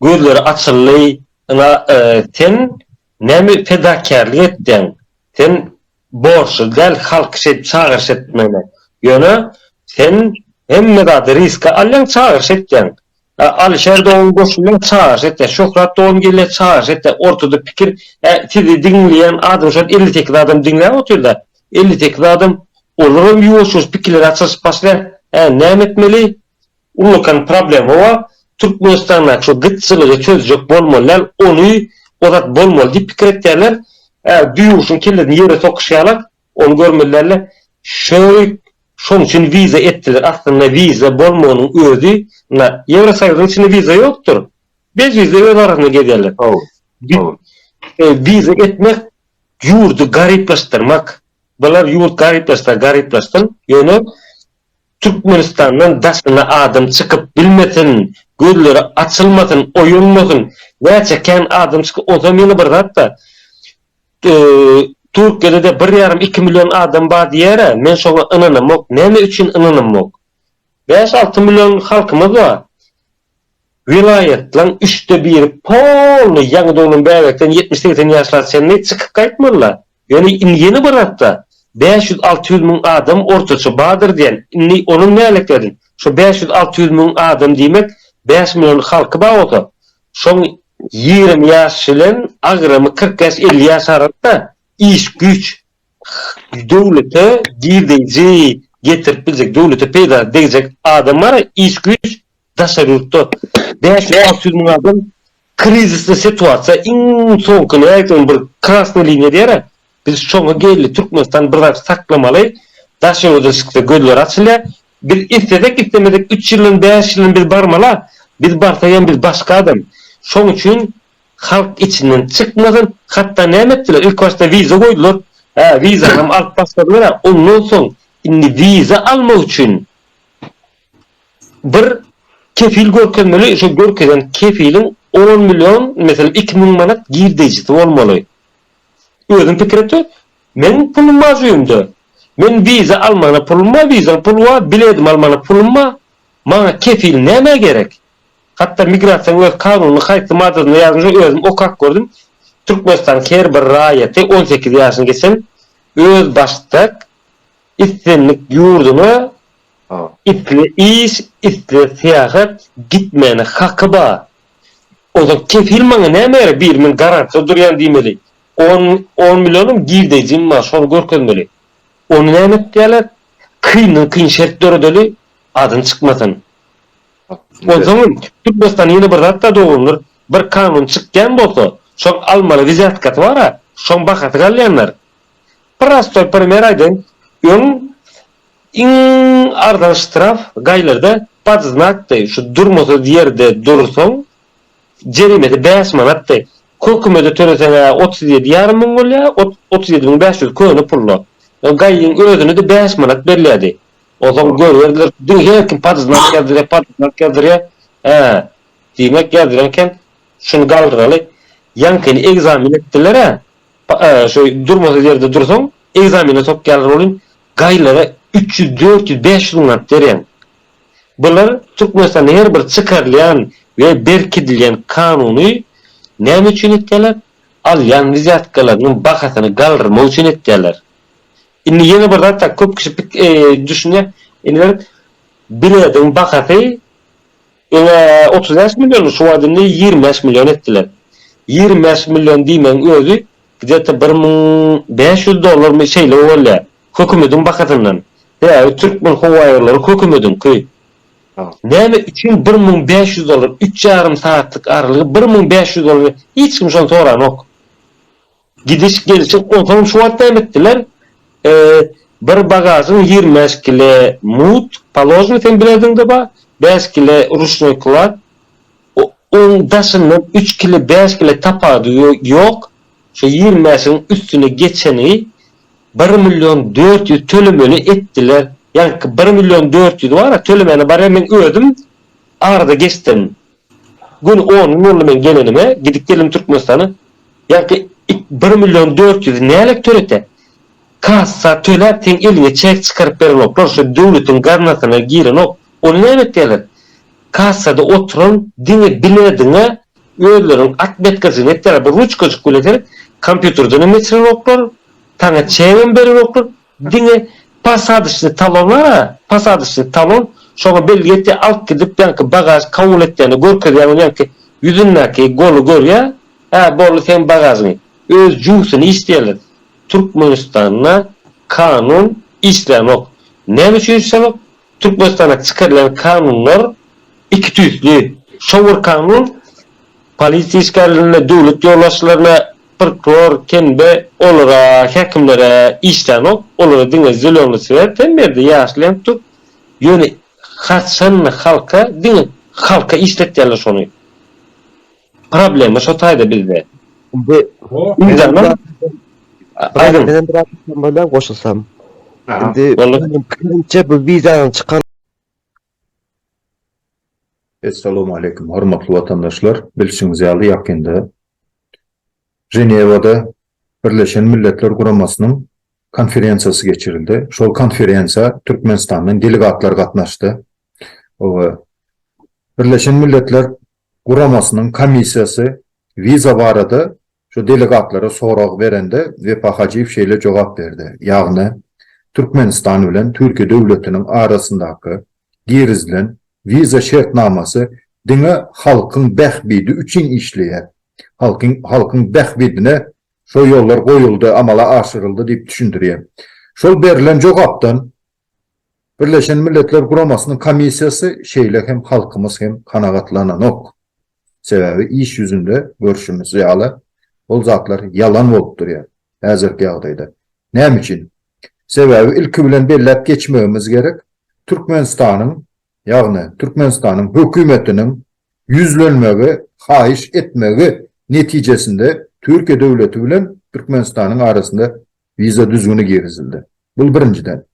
Gözleri açyldy, Ynha, sen näme fedakärlik etdiň? Sen borçly däl halky şeýdip çagyryş etmäne. Ýöne, sen hemme zady riske alýaň, çagyryş etýäň. Alyşer dogan goşulýaň, çagyryş etýäň. Şöhrat dogan gelýär, çagyryş etýäň. Ortada pikir, hä, sizi diňleýän adam şol elli sekiz adam diňläp otyr-da. Elli sekiz adam, olaram ýuwaş-ýuwaş pikirleri açylyşyp başlaýar. Hä, näme etmeli? Ullakan problema bar, Türkmenistandaky şu gytçylygy çözjek bolmaly däl, ony ozat bolmaly diýip pikir etýärler, ä düýeguşyň kellesini ýere sokyşýarlar, ony görmeli däller. Şeýk şoň üçin wiza etdiler, aslynda wiza bolmagynyň özi na Ýewrosoýuzyň içinde wiza ýokdur, bez wiza öz arasynda gezýärler. Wiza etmek ýurdy garyplaşdyrmak, bular ýurt garyplaşsa garyplaşsyn, ýöne Türkmenistandan daşyna adam çykyp bilmesin, gözleri açylmasyn, oýanmasyn, näçe kän adam çykyp, onsam ýene bir zat-da, Türkiýede-de bir ýarym, iki million adam bar diýer-ä, men şoňa ynanamok, näme üçin ynanamok? Bäş, alty million halkymyz bar. Welaýatlaň üçde biri poly ýaňy doglan bäbekden ýetmiş-segsen ýaşlara çenli çykyp gaýtmalylar. Ýöne indi ýene bir hapta bäş ýüz-alty ýüz müň adam ortaça bardyr diýen. Indi onam nälekleriň. Şo bäş ýüz-alty ýüz müň adam diýmek bäş million halky bar bolsa, şoň ýigrimi ýaş bilen agramy kyrk ýaş-elli ýaş arasynda iş-güýç, döwlete girdeýji getirip biljek, döwlete peýdasy degjek adam bar, iş-güýç daşary ýurtda bäş ýüz, alty ýüz müň adam krizisli situasiýa, iň soňky nädip ol bir krasnyý liniýa diýer-ä, biz şoňa geldi, Türkmenistan bir zat saklamaly, daşary ýurda çyksa gözleri açylýar, biz islesek islemesek üç ýyldan, bäş ýyldan biz barmaly-a, biz barsak hem biz başga adam. Şoň üçin halk içinden çykmasyn, hatda näme etdiler, ilk başda wiza goýdular, hä, wizanam alyp başladylar-a, ondan soň indi wiza almak üçin Bir kepil görkezmeli, şo görkezen kepiliň on million, meselem, iki müň manat girdejisi bolmaly. Özüň pikir etde, meniň pulum bar jübimde. Men wiza almana pulum bar, wizaň puly bar, biledimi almana pulum bar. Maňa kepil nämä gerek? Hatda migrasiýaň öz kanunynyň haýsy maddasynda ýazylmyşa özüm okap gördüm. Türkmenistanyň her bir raýaty on sekiz ýaşyny geçen özbaşdak Islendik ýurduna isle iş, isle syýahat gitmäne haky ba. Ozal kefil maňa näme gerek bir men garantda durýan diýmeli. On on millionam girdejim bar şony görkezmeli. Ony näme etýärler? Kyndan kyn şert döredeli adyny çykmasyn. Onsoňam Türkmenistanda ýene bir zat bar dogrudyr bir kanun çykýan bolsa şoň almaly wizýatkasy bara şoň bahasy galýandyr. Prostoý primer aýdaýyn, öň iň arzan ştraf gaýlarda pod znakdy, şu durmasyz ýerde dursaň jerimesi bäş manatdy, hökümede töleseň-ä otuz ýedi ýarym müň bolýa, otuz ýedi müň bäş ýüz köne pul-la, gaýyň özüne-de bäş manat berilýärdi, onsoň görerdiler, diňe her kim pod znak ýazdyrýa, pod znak ýazdyrýa, hä, diýmek ýazdyrýan eken, şuny galdyraly, ýaňkyny ekzamen etdiler-ä, Şeý durmasyz ýerde dursaň, ekzamene sokýarlar welin, gaýlara üç ýüz, dört ýüz, bäş ýüz manat berýäň. Bular Türkmenistanda her bir çykarylýan we berkidilýän kanuny näme üçin etýärler? Alýan wizýatkalarynyň bahasyny galdyrmak üçin etýärler. Indi ýene bir zat, köp kişi düşünýär, indi bir bilediň bahasy, Ine, otuz bäş milliony şu wagt indi ýigrimi bäş million etdiler. Ýigrimi bäş million diýmegiň özi gde-te bir müň bäş ýüz dollarmy şeýle bolýar. Hökümediň bahasyndan. Sebäbi Türkmenhowaýollary hökümediňki. Näme üçin bir müň bäş ýüz dollar? Üç ýarym sagatlyk aralygy bir müň bäş ýüz dollar. Hiç kim şony soranok. Gidiş gelşi onsoň şu wagt näme etdiler bir bagažyň ýigrimi bäş kile mut paložny seň bileziňde bar bäş kile ruşnoý klad oň daşyndan üç kile bäş kile tapady ýok şo ýigrimi bäşiň üstüne geçeni bir million dört ýüz tölemeli etdiler ýaňky bir million dört ýüz bara tölemäne barýan men özüm arada geçdim Gün on gün boldy men gelenime, gidip geldim Türkmenistana. Ýaňky it bir million dört ýüzi nälet törete? Kassa töläp seň eliňe çek çykaryp berenoklar, şo döwletiň gaznasyna girenok, ony näme etýärler? Kassada oturan diňe bilediňe özleriniň atmetkasyny etýärler, bir ruçkajyk bilen seni kompýuterden hem geçirenoklar, saňa çegem berenoklar. Diňe posadyçny talona, posadyçny talon, şoňa bileti alyp gidip ýaňky bagaž kabul etýände görkezýäň ony ýaňky ýüzündäki goly görýä, hä boldy seň bagažyň, öz juwsyny iç diýerler. Türkmenistanda kanun işlänok. Näme üçin işlänok? Türkmenistanda çykarylan kanunlar iki tüýsli. Şo bir kanun polisiýa işgärlerine, döwlet ýolbaşçylaryna, prokuror, tenbe, olara, häkimlere işlänok, olara diňe zelony swet hem berdi, ýaşyl hem tutup, ýöne haçan halka, diňe halka işletýärler şony. Problema şo taýda bizde. Indi Ýüzdanam Aýdym. Menen biraz bolýan goşulsam. Indi pikirimçe bu wizanyň çykan Essalamu aleýkum hormatly watandaşlar! Bilşiňiz ýaly ýakynda Ženewada Birleşen Milletler Guramasynyň konferensiýasy geçirildi. Şol konferensiýa Türkmenistandan delegatlar gatnaşdy. we Birleşen Milletler Guramasynyň komissiýasy wiza barada şu delegatlara sorag berende Wepa Hajyýew şeýle jogap berdi, ýagny Türkmenistan bilen Türkiýe döwletiniň arasyndaky girizilen wiza şertnamasy diňe halkyň bähbidi üçin işleýär, halkyň halkyň bähbidine şo ýollar goýuldy, amala aşyryldy diýip düşündirýär. Şol berlen jogapdan Birleşen Milletler Guramasynyň komissiýasy şeýle hem halkymyz hem kanagatlananok. Sebäbi iş ýüzünde görşümiz ýaly ol zatlar ýalan bolup durýar häzirki ýagdaýda. Näme üçin? Sebäbi ilki bilen belläp geçmegimiz gerek, Türkmenistanyň, ýagny Türkmenistanyň hökümetiniň ýüzlenmegi, haýyş etmegi netijesinde Türkiýe döwleti bilen Türkmenistanyň arasynda Wiza düzgüni girizildi. Bu birinjiden.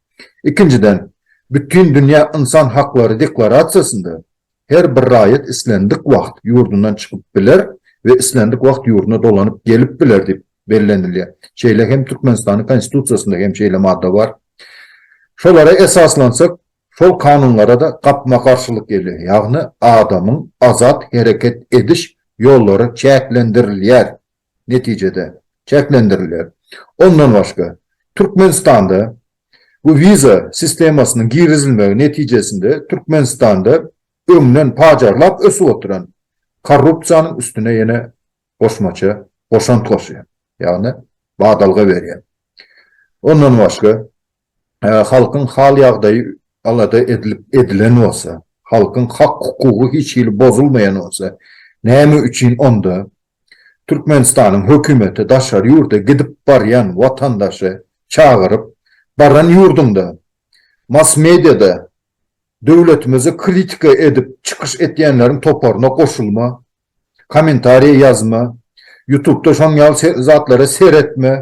Ikinjiden, Bütindünýä ynsan haklary deklarasiýasynda her bir raýat islendik wagt ýurdundan çykyp biler we islendik wagt ýurduna dolanyp gelip biler diýip bellenilýär. Şeýle hem Türkmenistanyň Konstitusiýasynda hem şeýle madda bar. Şolara esaslansak, şol kanunlara-da gapma-garşylyk gelýär, ýagny adamyň azat hereket ediş ýollary çäklendirilýär netijede, çäklendirilýär. Ondan başga, Türkmenistanda bu wiza sistemasynyň girizilmegi netijesinde Türkmenistanda öňden pajarlap ösüp oturan korrupsiýanyň üstüne ýene goşmaça goşant goşýar, ýagny badalga berýär. Ondan başga, halkyň hal-ýagdaýy alada edilip edilen bolsa, halkyň hak-hukugy hiç hili bozulmaýan bolsa, näme üçin onda Türkmenistanyň hökümeti daşary ýurda gidip barýan watandaşy çagyryp, baran ýurduňda mass-mediada döwletimizi kritika edip çykyş etýänleriň toparyna goşulma, Kommentariýa ýazma, ýutubda şoň ýaly zatlara seretme,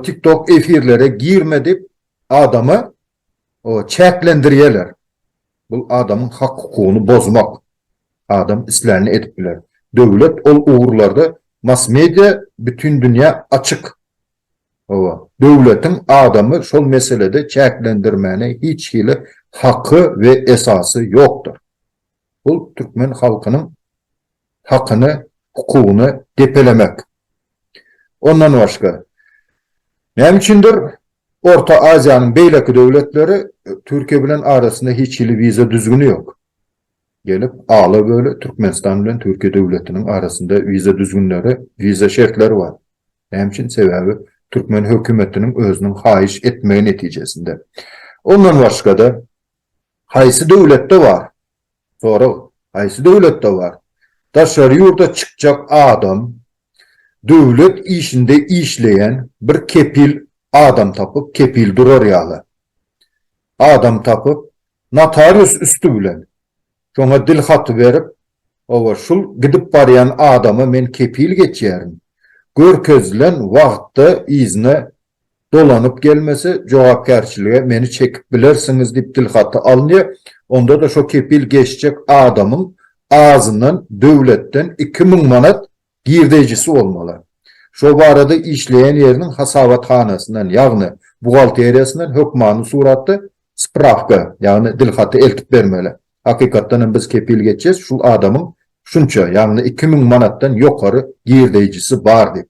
tiktok efirlere girme diýip adamy çäklendirýärler. Bul adamyň hak hukugyny bozmak. Adam islänini edip biler. Döwlet ol ugurlarda massmedia bütin dünýä açyk. Hawa, döwletiň adamy şol meselede çäklendirmäne hiç hili haky we esasy ýokdur. Bu türkmen halkynyň hakyny, hukugyny depelemek. Ondan başga, näme üçindir, Orta Aziýanyň beýleki döwletleri Türkiýe bilen arasynda hiç hili wiza düzgüni ýok. Gelip, ala-böle Türkmenistan bilen Türkiýe döwletiniň arasynda wiza düzgünleri, wiza şertleri bar. Näme üçin? Sebäbi türkmen hökümetiniň özüniň haýyş etmegi netijesinde. Ondan başga-da, Haýsy döwletde bar? Sorag, Haýsy döwletde bar? Daşary ýurda çykjak adam döwlet işinde işleýän bir kepil adam tapyp, kepil durar ýaly adam tapyp, notarius üsti bilen şoňa dil haty berip, Hawa, şul gidip barýan adama men kepil geçýärin, görkezilen wagtda yzyna Dolanyp gelmese, jogapkärçilige meni çekip bilersiňiz diýip dilhaty alynýar, onda-da şo kepil geçjek adamyň azyndan döwletden iki müň manat girdeýjisi bolmaly. Şo barada işleýän ýeriniň hasabathanasyndan, ýagny buhgalteriýasyndan hökmany suratda sprawka, ýagny dilhaty eltip bermeli. Hakykatdan hem biz kepil geçýäs, şul adamyň şunça, ýagny iki müň manatdan ýokary girdeýjisi bar diýip.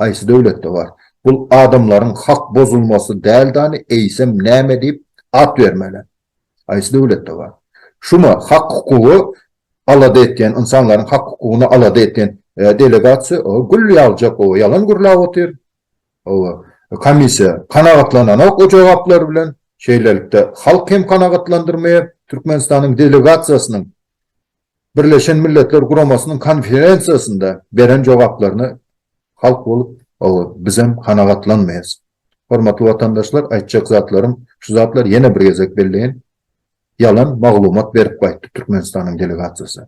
Haýsy döwletde bar? Bul adamlaryň hak bozulmasy däldani eýsem näme diýip at bermeli? Haýsy döwletde bar? Şuma hak hukugy alada etýän ynsanlaryň hak hukugyny alada etýän delegasiýa oba gül ýagjak oba ýalan gürläp otyr oba komissiýa kanagatlananok o jogaplar bilen şeýlelikde halk hem kanagatlandyrmaýar türkmenistanyň delegasiýasynyň Birleşen Milletler Guramasynyň konferensiýasynda beren jogaplaryna halk bolup oba bizem kanagatlanmaýas. Hormatly watandaşlar aýtjak zatlarym şu zatlar ýene bir gezek belleýin ýalan maglumat berip gaýtdy Türkmenistanyň delegasiýasy.